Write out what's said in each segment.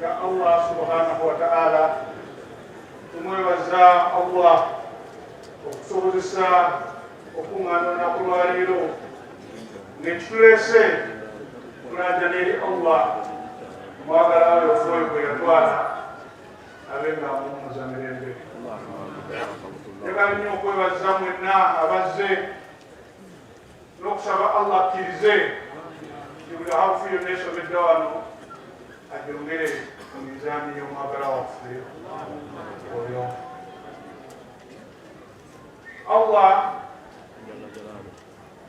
ya Allah subhanahu wa ta'ala tumwebaza Allah okusobozesa okuŋŋaana olunaku lwaleero ngekituleese kulajana eri Allah mwagala we ofuoyo gwe yatwala abe nga amuwumuza mirembe njagala nnyo okwebaza mwenna abazze n'okusaba Allah akkirize nti buli harufu yonna esomeddwa wano ajongere mu mizaani y'omwagala waffe oyo Allah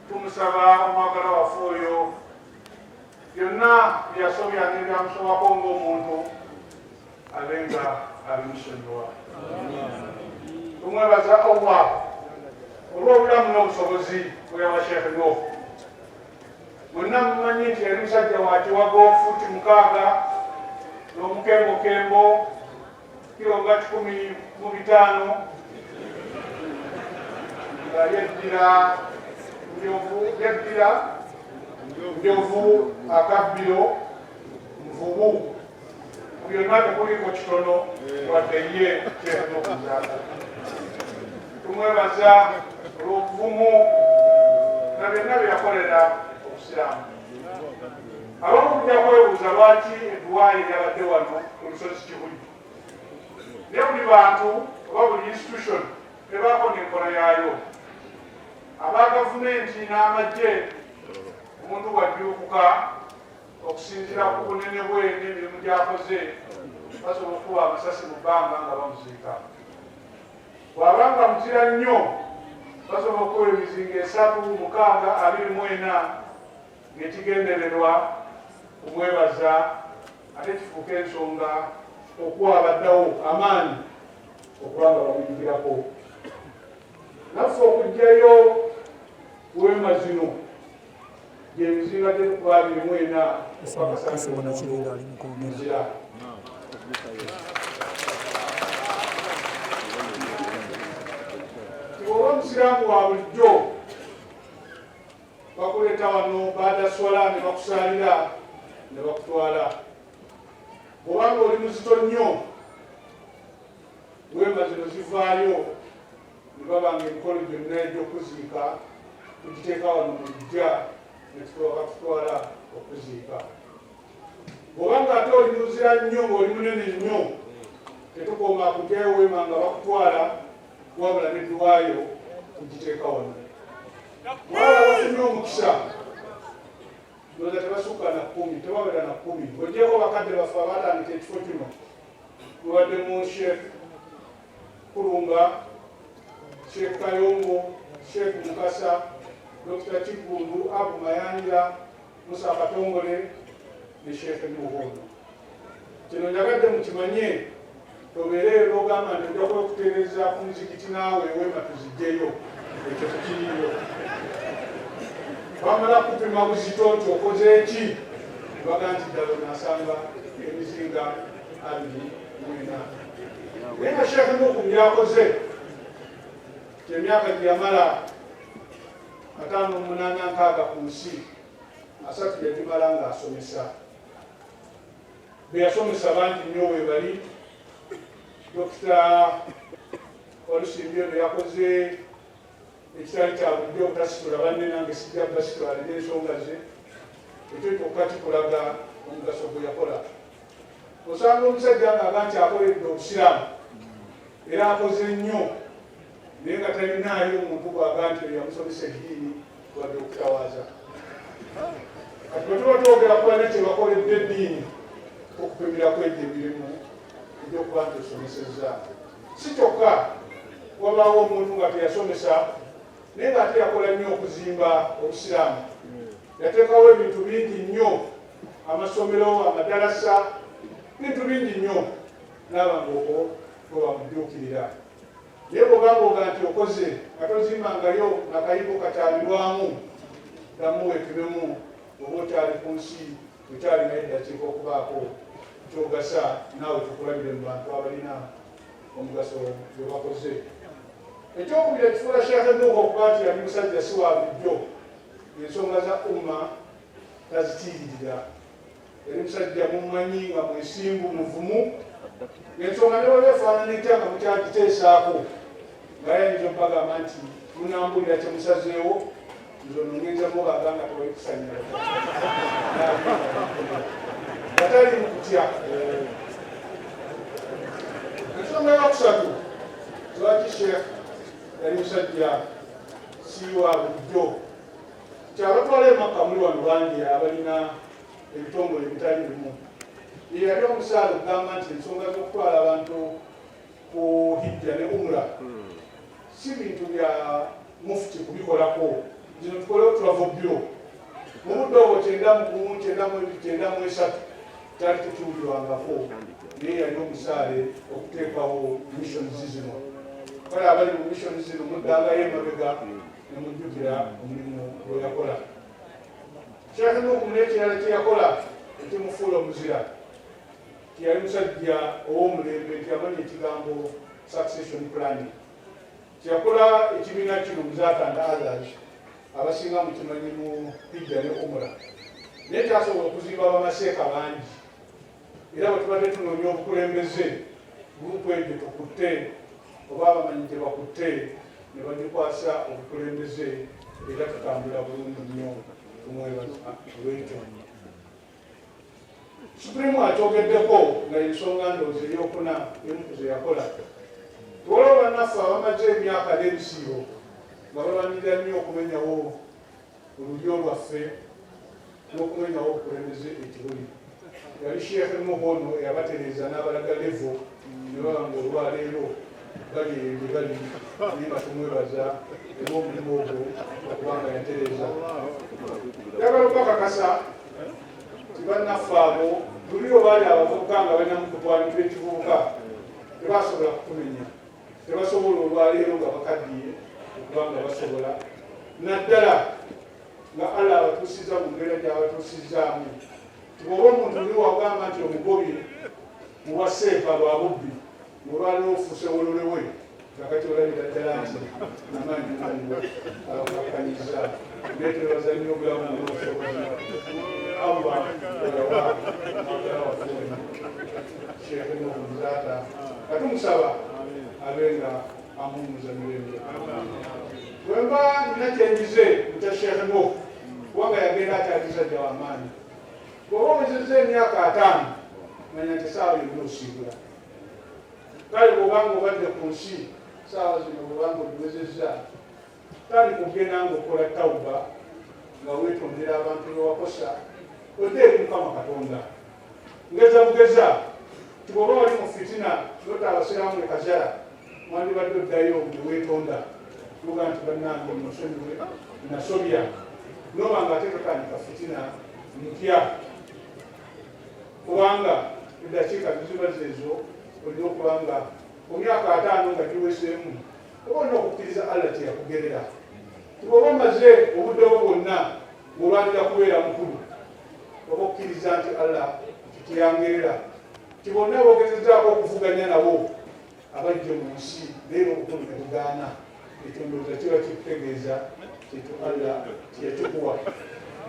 tumusaba omwagala waffe oyo byonna byasobya nebyamusobako ng'omuntu abenga abimusonyiwa tumwebaza allah olwobulamu n'obusobozi bweyawa sheekhe noofu mwenna mumanyi nti yali musajja wakiwago futi mukaaga n'omukembokembo kiro nga kikumi mu bitaano nga yeddira njovu yeddira njovu akabbiro nvubu byonna tekuliko kitono wadde ye kyetnokuzaako tumwebaza olwobuvumu na byonna byeyakolera obusiraamu abamu kujja kwebuuza lwaki eduwaayi lyabadde wano ku lusozi kibuli naye buli bantu oba buli institution ebaako nenkola yaayo aba gavumenti n'amagye omuntu bwajjulukuka okusinzira ku bunene bwe n'emirimu gyakoze basobola okukuba amasasi mu bbanga nga bamuziika bw'aba nga muzira nnyo basobola okukuba emizinga esatu mukaaga abiri mu ena ng'ekigendererwa kumwebaza ate kifuuka ensonga okuwa abaddawo amaanyi okuba nga bamuyigirako naffe okugjayo weema zino oba omusiraamu wa bulijjo bakuleeta wano baadaswala ne bakusaalira ne bakutwala bwobanga oli muzito nnyo wemazino zivaayo ne baba ng'emikolo gyonna egy'okuziika tugiteeka wano mu ddya ne tutuwaka tutwala okuziika bw'oba ng'ate oli muzira nnyo ng'oli munene nnyo tetukoma kugyayo weema nga bakutwala wabula neddwayo tugiteeka wano wabula bafunye omukisa ndoza tebasukka na kumi tebabera na kumi ogyeko bakadde baffe abatandika ekifo kino mubadde mu shefu Kulumba, Sheikh Kayombo, Sheikh Mukasa, Dr. Kiggundu, Abu Mayanja, Musa Katongole ne Sheikh Muhondo. Kino njagadde mukimanye tobeere era ogamba nti ojja kwekutereeza ku muzikiti naawe eweema tuzijjeyo ekyo tukiriyo bamala kupima buzito nti okoze ki baga nti ddala nasanga emizinga abiri mwena naye nga sheekh muku byakoze emyaka gyeyamala ataano munaana nkaaga ku nsi asatu yagimala nga asomesa beyasomesa bangi nnyo webali dokita olusimbyo beyakoze ekitali kyabudde obutasitula banne nange sijja basitula alina ensonga ze ekyo kyokka kikulaga omugaso gweyakola osanga omusajja ngaaga nti akoledde obusiraamu era akoze nnyo naye nga talinaayo omuntu bwaga nti oyo yamusomesa eddiini wadde okutawaaza kati bwe tuba twogera kubana kye bakoledde eddiini okupimira kwegyo emirimu egyokuba nti osomesezza si kyokka wabaawo omuntu nga teyasomesa naye nga ate yakola nnyo okuzimba obusiraamu yateekawo ebintu bingi nnyo amasomero amadalasa bintu bingi nnyo naaba ngaoko bwebamujuukirira naye bwogambooga nti okoze nga tozimbangayo akayigo kakyalirwamu damu wepimemu oba okyali ku nsi okyali naye dakiika okubaako kyogasa naawe tukulabire mu bantu abalina omugaso gwe bakoze ekyokubira ekifuula sheekhe nuuha okuba nti yali musajja siwa bulijjo ensonga za umma tazitiiririra eri musajja mumanyi nga mwesimbu muvumu ensonga newali efaanana etya nga mukyagiteesaako nga yayinza okubagamba nti munambulira kyemusazeewo nze onongenza mubaga nga tewali kusanyala nga tali mukutya ensonga yakusatu lwaki sheekh yali musajja siwa bulijjo nti abatwala emakka muli wano bangi abalina ebitongole ebitali bimu eyali omusaala okugamba nti ensonga z'okutwala abantu ku hijja ne umra si bintu bya mufuti kubikolako zino tukole oturavo biro mu budde obwo kyendamu kumu kyendamu ebiri kyendamu esatu kyali tekiwulirwangako naye yali omusaale okuteekawo missions zino kale abali mu missions zino muddangayo emabega ne mujjukira omulimu gwe yakola sheekh nuuku n'ekirala kye yakola ekimufuula omuzira tiyali musajja ow'omulembe tiyamanya ekigambo succession planning kyeyakola ekibiina kino muzaata and others abasinga mukimanyi mu hijja ne umura naye kyasobola okuzimba bamaseeka bangi era bwe tubadde tunoonya obukulembeze gurupu egyo tukutte oba abamanyi gye bakutte ne bagikwasa obukulembeze era tutambula bulungi nnyo kumwebaolwekyo supreme akyogeddeko nga ensonga ndoozi eyokuna emuku ze yakola waliwo bannaffe abamaze emyaka n'ebisiibo nga balwanirira nnyo okumenyawo mu lulyo lwaffe n'okumenyawo obukulembeze ekibuli yali sheekhe muhono eyabatereeza n'abalaga levo ne baba nga olwaleero bali eyo gye bali naye nga tumwebaza era omulimu ogwo okubanga yatereeza yagala okubakakasa ti bannaffe abo luli obaali abavubuka nga balina mukutwalibwa ekivubuka tebasobola kutumenya tebasobola olwaleero nga bakaddiye okuba nga basobola naddala nga allah abatuusizza mu mbeera gyabatuusizzaamu tibwoba omuntu ni wagamba nti omugobi muwa seefa lwa bubbi olwaliwo ofuuse wololewe kakati olabira ddala nti amaanyi galiwo abakanyiza naye twebaza nnyo obulamu nobusobozi allah olawa agala wafuuli katumusaba abe nga amuwumuza mirembe wemba nina kyenjize mukya sheekhe mo kubanga yagenda akyalisajja wamaanyi bwoba omuzizza emyaka ataano manya nti saawa yonna osiibula kale bwobanga obadde ku nsi saawa zino bwobanga ogiwezezza tali kugenda ngaokola tawuba nga wetondera abantu bewakosa oteeka mukama katonda ngeza bugeza tibwoba wali mu fitina nota abasiraamu ekazala mwandibadde oddayo newetonda tuga nti bannange musonyiwe nasobya noba nga ate totandika fitina mpya kubanga eddakiika ziziba zeezo olina okubanga ku myaka ataano nga giweseemu oba olina okukkiriza allah teyakugerera tibwoba omaze obudde bwo bwonna ngolwanira kubeera mukulu oba okukkiriza nti allah teyangerera ti bonna bogezezaako okuvuganya nabo abajje mu nsi leero obukulu nebugaana ekyo ndowooza kiba kikutegeeza kintu allah teyakikuwa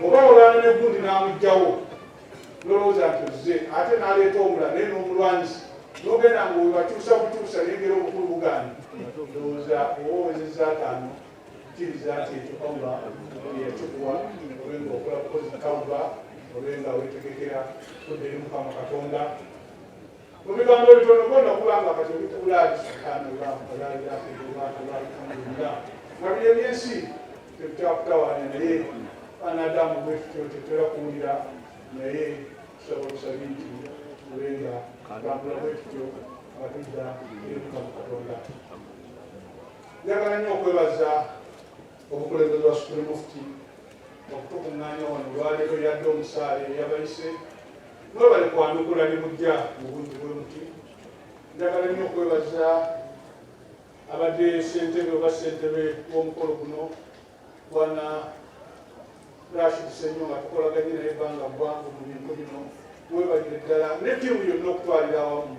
oba olwana negundi n'amugjawo nolowooza nti ozze ate naleeta omula naye n'omulwanyisa nogenda nga webakyusa bukyusa nengera obukulu bugani ndowooza oba owezeza ataano kiriza nti ekyo allah yakikuwa obe nga okola kukozi tawuba obe nga wetegekera kudde eri mukama katonda Mu bigambo ebitono bona okuba nga kati ebikulaali subhanallah walailahaillallah nga biri ebyensi tebitakutawaanya naye anadamu bwekityo tetera kuwulira naye tusaba obusabi nti ube nga bambula bwekityo nga tudda eruka mu katonda njagala nnyo okwebaza obukulembeze wa supreme mufti okutukuŋŋaanya wano olwaleero yadde omusaale eyabayise mwebale kwanukula ne mujja mu bungi bwe muti njagala nnyo okwebaza abadde ssentebe oba ssentebe w'omukolo guno bwana rashid senyo nga tukolaganye naye ebbanga ggwanvu mu bintu bino webalire ddala ne ttiimu yonna okutwalira awamu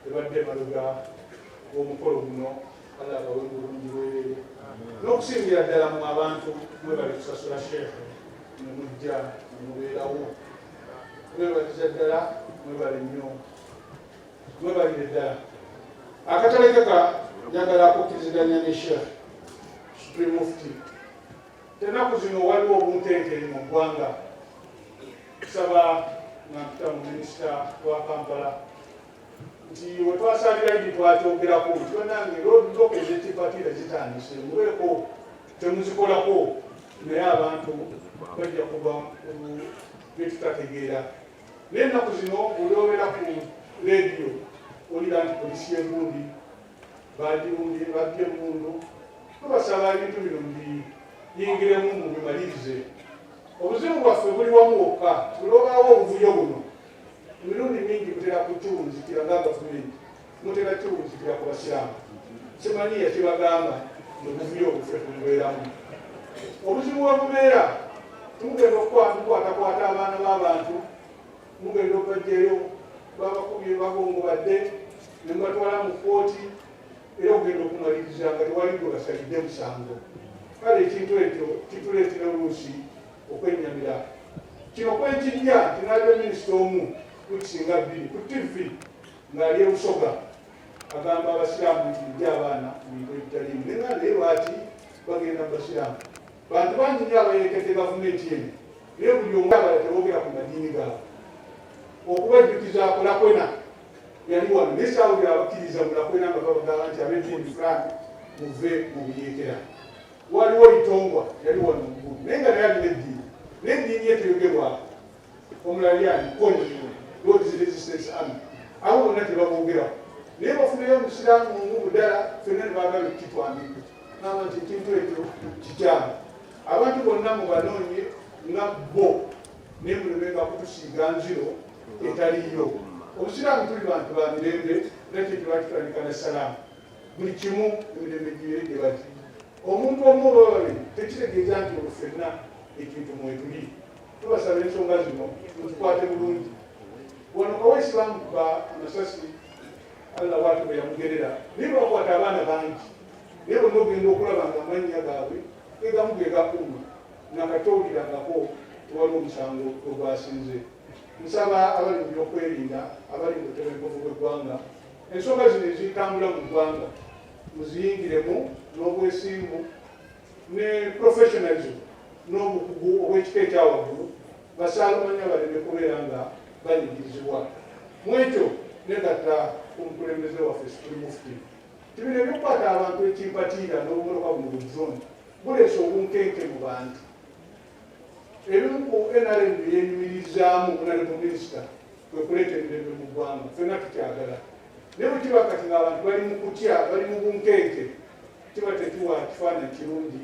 ebadde emabega w'omukolo guno Allah abawe mu bulungi bwerere n'okusingira ddala mu abantu mwebali kusasula sheekhe ne mujja ne mubeerawo mwebaliza ddala mwebali nnyo mwebalire ddala akatalekeka njagala akukkiriziganya ne sheekh supreme mufti tenaku zino waliwo obuntenkeri mu ggwanga kusaba nga mpita mu minisita wa kampala nti wetwasalira idi twakyogerako nti banange lodok ezetipatira zitandise mubeeko temuzikolako naye abantu bajja kuba byetutategeera naye ennaku zino olwobera ku lediyo olira nti polisi yegundi bagirumbye babye emundu tubasaba ebintu bino mbiyingiremu mubimalirize obuzibu bwaffe buli wamu wokka tulobaawo obuvuyo buno Emirundi mingi mutera kukiwunzikira nga gavumenti mutera kiwunzikira ku basiraamu. Simanyi yakibagamba nti obuvuyo obufe tumubeeramu. Obuzibu we bubeera mugenda okukwatakwata abaana b'abantu, mugenda okubajjayo babakubye bagongo badde ne mubatwala mu kkooti era okugenda okumaliriza nga tewali gwe basalidde musango. Kale ekintu ekyo kituleetera oluusi okwennyamira kino kwekijja nti naliwo minisita omu kukisinga bbiri ku tivvi ng'ali ebusoga agamba abasiraamu nti mujja abaana mu bintu ebitaliimu ne nga naye lwaki bagenda mu basiraamu bantu bangi nyo abayerekedde gavumenti eno naye buli omu abala tebogera ku madiini gaabwe okubajjukiza akolakwena yali wano naye saawulira abakkiriza mulakwena nga babagamba nti ab'eddiini fulani muve mu buyeekera waliwo itongwa yali wano mukulu naye nga naye alina eddiini naye eddiini ye teyogerwako omulalyani konio lord resistance army abo bonna tebabogerako naye bafunayo omusiraamu omu mudala fenna nebagala okukitwamika naba nti ekintu ekyo kikyamu abantu bonna mubanoonye nga bo naye mulemenga kutusiiga nziro etaliyo obusiraamu tuli bantu ba mirembe nakyekyo bakitandika ne salaamu buli kimu emirembe gibeere gye bati omuntu omu oba babiri tekitegeeza nti olwo fenna ekintu mwetuli tubasaba ensonga zino muzikwate bulungi wano kawesi bamukuba amasasi allah watu bwe yamugerera naye lwakwata abaana bangi naye bonna ogenda okulaba nga amannya gaabwe egamu ge gakuuma nakatowulirangako tewali omusango ogwasinze nsaba abali mu byokwerinda abali mu butebenkovu bw'eggwanga Ensonga zino ezitambula mu ggwanga muziyingiremu n'obwesimbu ne professionalism n'obukugu obw'ekika ekyawaggulu basaalumanya baleme kubeera nga banyigirizibwa mu ekyo negatta ku mukulembeze waffe Situli Mufti nti bino ebyokukwata abantu ekimpatiira n'obumoloka buno bu drone buleese obunkenke mu bantu Ebimu ku NRM bye yenyumirizaamu okunali mu minisita kwe kuleeta emirembe mu ggwanga, ffenna tukyagala naye bwe kiba kati ng'abantu bali mu kutya, bali mu bunkeeke, kiba tekiwa kifaananyi kirungi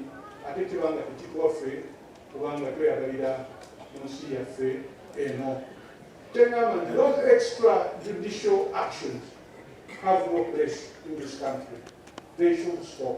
ate kiba nga tekituwaffe kubanga tweyagalira mu nsi yaffe eno. Tengamba nti those extra judicial actions have no place in this country. They should stop.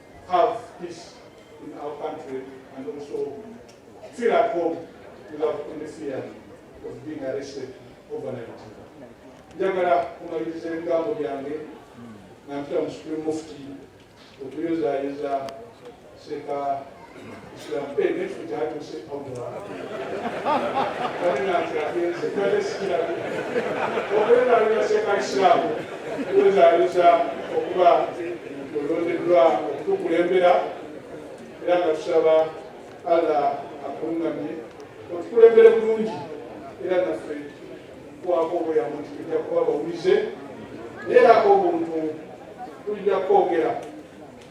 have peace in our country and also feel at home without any fear of being arrested overnight. njagala kumaliriza ebigambo byange nga mpita mu supreme mufti okuyozayeza seeka okuba olondeddwa okutukulembera era nga tusaba allah akulungamye otukulembere bulungi era naffe kwako obuyambo nti tujja kuba bawulize naye era ako obuntu tujja kwogera